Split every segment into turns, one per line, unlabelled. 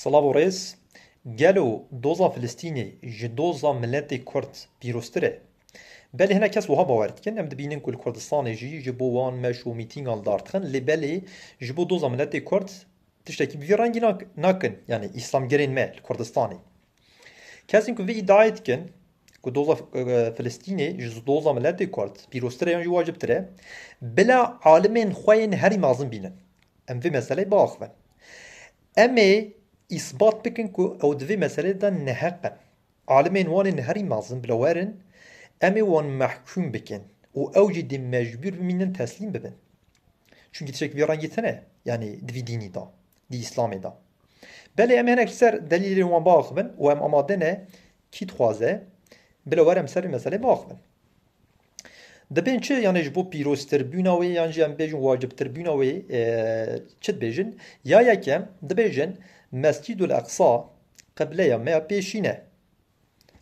Silav û rêz, Gelo doza Filistînê ji doza miletê Kurd pîroztir e? Belê hinek kes wiha bawer dikin, em dibînin ku li Kurdistanê jî ji bo wan meş û mîtîngan li dar dixin lê belê ji bo doza miletê Kurd tiştekî bi vî rengî nakin yanî îslamgerên me li Kurdistanê. Kesên ku vê îdiayê dikin ku doza Filistînê ji doza miletê Kurd pîroztir e yan jî wacibtir e bila alimên xwe yên herî mezin bînin Em vê meseleyê biaxivin. Em ê îsbat bikin ku ew di vê meseleyê de neheq in. Alimên wan ên herî mezin bila werin, em ê wan mehkûm bikin û ew jî dê mecbûr bimînin teslîm bibin. Çunkî tiştekî vê rengî tune yanî di vî dînî de, di Îslamê de. Belê em ê hinek ji ser delîlên wan biaxivin û em amade ne kî dixwaze bila wer em li ser vê meseleyê biaxivin. Dibên çi yanê ji bo pîroztirbûna wê yan jî em bêjin wacibtirbûna wê çi dibêjin? Ya yekem dibêjin Mescîdul Eqsa qibleya me ya pêşîn e.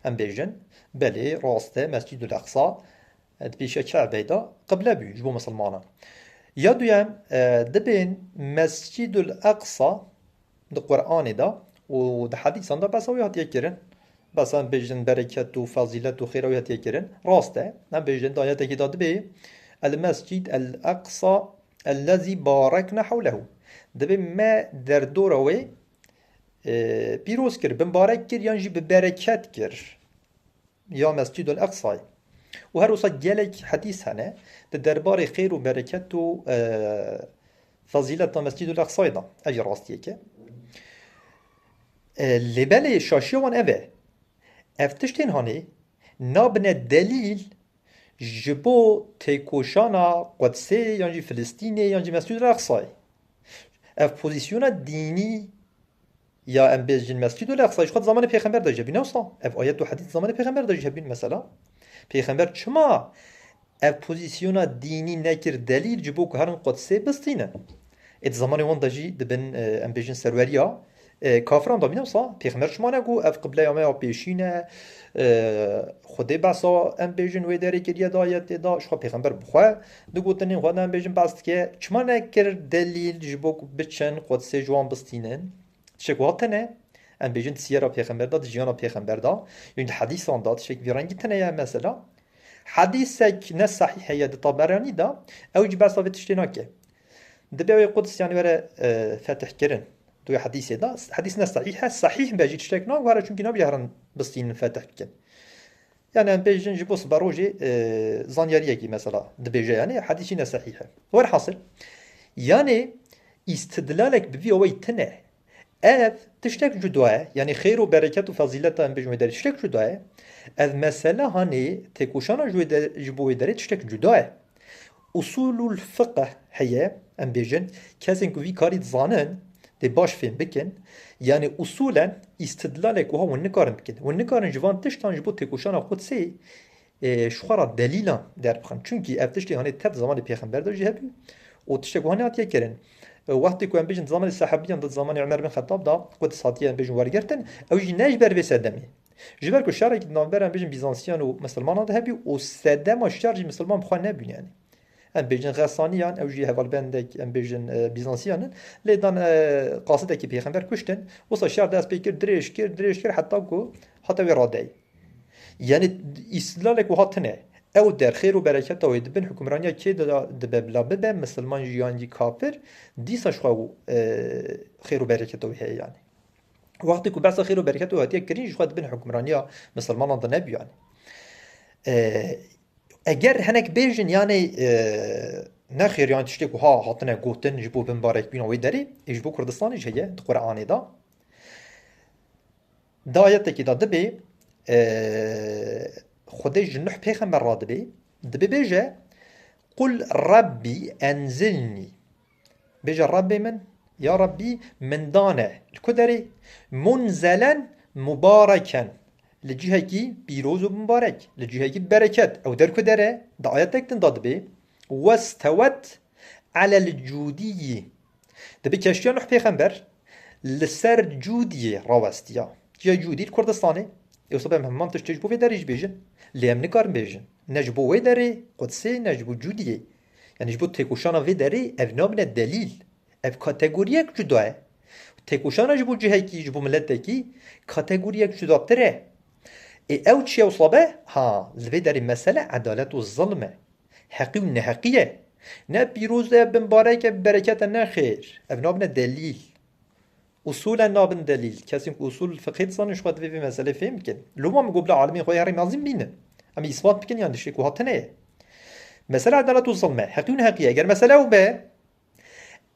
Em bêjin belê rast e Mescîdul Eqsa di pêşiya Kebeyê de qible bû ji bo misilmanan. Ya duyem dibên Mescîdul Eqsa Di Quranê de û di hedîsan de behsa wî hatiye kirin. Behsa em bêjin bereket û fezîlet û xêra wî hatiye kirin. Rast e. Em bêjin di ayetekî de dibê El-Mescîd El-Eqsa ellezî barekna hewlehu. Dibê me derdora wê pîroz kir, binbarek kir yan jî bi bereket kir. ya Mescîdul Eqsayê û her wisa gelek hedîs hene di derbarê xêr û bereket û fezîleta Mescîdul Eqsayê de. Ev jî rastiyek e. Lê belê şaşiya wan ev e. Ev tiştên hanê nabine delîl ji bo têkoşana Qudsê yan jî Filistînê yan jî Mescîdul Eqsayê. Ev pozîsyona dînî Ya em bêjîn Mescîd û Leqsa jî xwe di zamanê pêxember de jî hebîne wisa ev ayet û hedîs di zamanê pêxember de jî hebîn mesela pêxember çima ev pozîsyona dînî nekir delîl ji bo ku herin Qudsê bistînin. Ê di zamanê wan de jî di bin em bêjin serweriya kafiran de bîne wisa pêxember çima ne ku ev qibleya me ya pêşîn e Xwedê behsa em bêjin wê derê kiriye di ayetê de jixwe pêxember bi xwe Di gotinên xwe de em bêjin behs dike, çima nekir delîl ji bo ku biçin Qudsê ji wan bistînin? Tişek wiha tune? Em bêjin di siyera pêxember de, di jiyana pêxember de yên di hedîsan de tişek vî rengî tune ye. Mesela hedîsek ne sehî heye di Taberanî de ew jî behsa vê tiştê nake. Dibe wê Quds yanî were fetihkirin. Di wê hedîsê de hedîs ne sehî he, sehîh be jî tiştek nagwere çunkî nabije herin bistînin fetih bikin. Yanî em pê jin ji bo siberojê zanyariyekî mesela dibêje yanî hedîs jî ne sehîh e. Werhasil yanî îstidlalek bi vî oweyî tune ev tiştek cuda ye yanî xêr û bereket û fezîleta em bêjin wê derê tiştek cuda ye. Ev mesele hanê têkoşana ji bo wê derê tiştek cuda ye. Usûlul fiqh heye, em bêjin, kesên ku vî karî dizanin, dê baş fêm bikin, yanî usûlen îstidlalek wiha hûn nikarin bikin. Hûn nikarin ji van tiştan ji bo têkoşana Qudsê ji xwe re delîlan derbixin. Çimkî ev tiştên hanê tev di zamanê pêxember de jî hebû û tiştek wiha nehatiye kirin. Wextê ku em bêjin di zamanê sehabîyan de, di zamanê Umer bin Xetab de Quds hatiye em bêjin wergirtin, ew jî ne ji ber vê sedemê, Ji ber ku şerekî di navber em bêjin Bîzansiyan û Misilmanan de hebû û sedema şer jî Misilman bi xwe nebûn yanî. Em bêjin Xesaniyan, ew jî hevalbendek em bêjin Bîzansiyan in. Lê dan qasidekî pêxember kuştin. Wisa şer dest pê kir, dirêj kir, dirêj kir heta ku hate wê radeyê. Yanî îstîlalek wiha tune. Ew der xêr û bereketa wê di bin hukmraniya kê de dibe bila bibe misilman jî yan jî kafir, dîsa ji xwe xêr û bereketa wê heye yanî. Wextê ku behsa xêr û bereketê hatiye kirin jixwe di bin hukmraniya misilmanan de nebûyan. Eger hinek bêjin yanê ne xêr yan tiştê ku ha hatine gotin ji bo binbarek bîna wê derê ê ji bo Kurdistanê jî heye di Quranê de. Di ayetekî de dibê xwedê ji nuh pêxember re dibê dibê bêje Qul Rabbî enzilnî Bêje Rabbê min, ya Rabbî min dane li ku derê? Munzelen mubareken, li cihekî pîroz û mubarek, li cihekî bereket. Ew der ku dere, di ayetek din de dibê, westewet alel cûdiyî. Dibê keştiya Nuh pêxember li ser cûdiyê rawestiya. Çiya cûdî li Kurdistanê? Ew sibe em heman tiştê ji bo vê derê jî bêjin. Lê em nikarin bêjin. Ne ji bo wê derê Qudsê ne ji bo cûdiyê. Yanî ji bo têkoşana vê derê ev nabine delîl. Ev kategoriyek cuda ye. Têkoşana ji bo cihekî, ji bo miletekî kategoriyek cudatir e. Ê ew çi ye wisa be? Ha, li vê derê mesele edalet û zilm e. Heqî û neheqî ye. Ne pîroz e, binbarek e, bi bereket e, ne xêr. Ev nabine delîl. Usûlen nabin delîl. Kesên ku usûl fiqhê dizanin ji xwe divê vê meseleyê fêm bikin. Li wan bigo bila alimên xwe yê herî mezin bînin. Em ê îsbat bikin yan tiştê ku hatine ye. Mesele edalet û zilm e. Heqî û neheqî ye. Eger mesele ew be,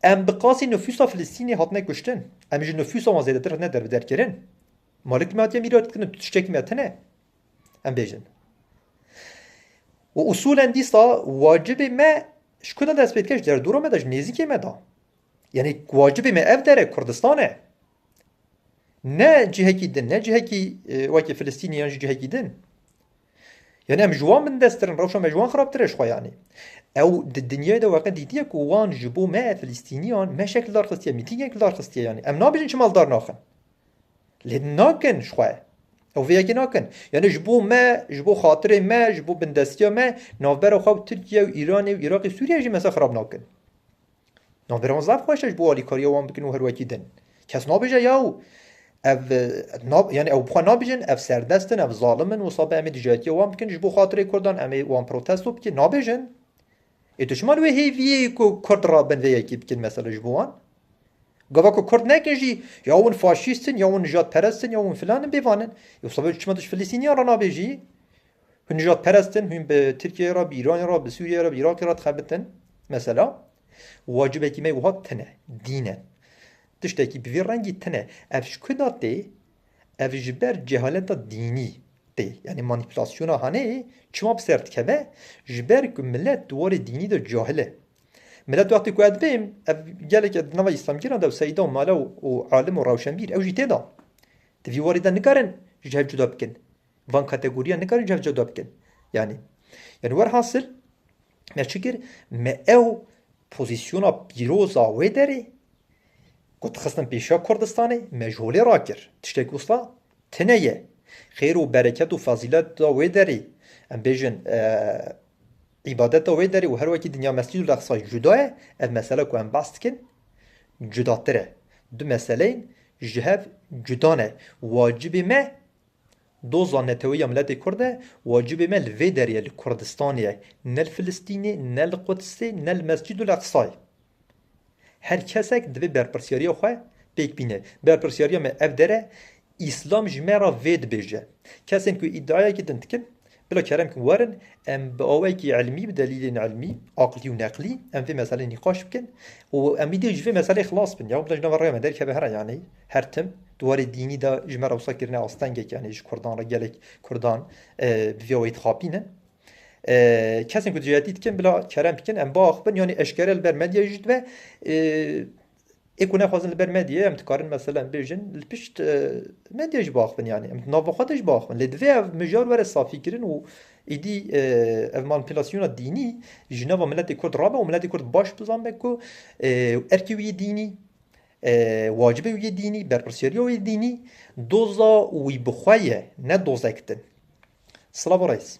em bi qasî nifûsa Filistînê hatine kuştin. Em ji nifûsa wan zêdetir hatine derbiderkirin. Malik me hatiye mîrat kirin tu tiştekî me tune em bêjin. Û usûlen dîsa wacibê me ji ku de dest pê dike ji derdora me de ji nêzîkê me de. Yanî wacibê me ev dere Kurdistan e. Ne cihekî din, ne cihekî e, wekî Filistînî yan jî cihekî din. Yani em ji wan bindestirin, rewşa me ji wan xirabtir e xwe yanî. Ew di dinyayê de weqe dîtiye ku wan ji bo me Filîstîniyan me şekil dar xistiye, mîtîngek dar xistiye yanî. Em nabêjin çi maldar naxin. Lê nakin ji xwe. Ew vê yekê nakin. Yani ji bo me, ji bo xatirê me, ji bo bindestiya me navbera xwe û Tirkiye û Îranê û Îraqê Sûriye jî mesela xirab nakin. Navbêran zaf xweş e ji bo alîkariya wan bikin û her wekî din. Kes nabêje yaw ev yanî ew bi xwe nabêjin ev serdest in, ev zalim in wisa be em ê dijayetiya wan bikin ji bo xatirê Kurdan em ê wan protesto bikin nabêjin. Ê tu çima li wê hêviyê ku Kurd rabin vê yekê bikin mesela ji bo wan? Gava ku Kurd nekin jî ya hûn faşîst in ya hûn nijadperest in ya hûn filan in bêvan in. Ê wisa be tu çima tu ji Filistîniyan re nabêjî? Hûn nîjadperest in, hûn bi Tirkiyeyê re, bi Îranê re, bi Sûriyeyê re, bi Îraqê re dixebitin. Mesela, wacibekî me wiha tune, dîn e. Tiştekî bi vî rengî tune. Ev ji ku de tê? Ev ji ber cehaleta dînî tê. Yanî manîpulasyona hanê çima bi ser dikeve? Ji ber ku milet di warê dînî de cahil e. Milet wextê ku edibê, ev geleke di nava îslamgîran de û seyda û mala û alim û rewşenbîr ew jî tê de. Di vî warê de nikarin ji hev cuda bikin. Van kategoriyan nikarin ji hev cuda bikin. Yanî yani werhasil me çi kir me ew pozîsyona pîroza wê derê ku dixistin pêşiya Kurdistanê me ji holê rakir. Tiştek wisa tine ye. Xêr û bereket û fezîleta wê derê em bêjin îbadeta wê derê û her wekî dinya mescîd û leqsa cuda ye ev mesele ku em bas dikin cudatir e. Du meseleyên ji hev cuda ne. Wacibê me Doza neteweyî ya miletê kurd e, wacibê me li vê derê ye li Kurdistanê ye, ne li Filistînê, ne li Qudsê, ne li Mescîdul Eqsayê. Her kesek divê berpirsyariya xwe pêk bîne. Berpirsyariya me ev dere, Îslam ji me re vê dibêje. Kesên ku îdiayekî din dikin, Bila kerem ku werin em bi awayekî ilmî, bi delîlên ilmî, aqlî û neqlî em vê meselê nîqaş bikin û em wî dê ji vê meselê xilas bin. Ya bila ji nava rêya me derkeve here yanî her tim di warê dînî de ji me re wisa kirine astengek yanî ji kurdan re gelek kurdan bi vê awayî dixapînin. Kesên ku dijayetî dikin bila kerem bikin em biaxivin yanî eşkere li ber medyayê jî dibe Ê ku nexwazin li ber medyê em dikarin meselem bêjin li pişt medyê jî biaxivin yanî em di nava xwe de jî biaxivin. Lê divê ev mijar were safîkirin û êdî ev manîpulasyona dînî ji nava miletê Kurd rabe û miletê Kurd baş bizanbe ku erkê wî yê dînî, wacibê wî yê dînî, berpirsiyariya wî yê dînî, doza wî bi xwe ye ne dozek din. Slavo reis.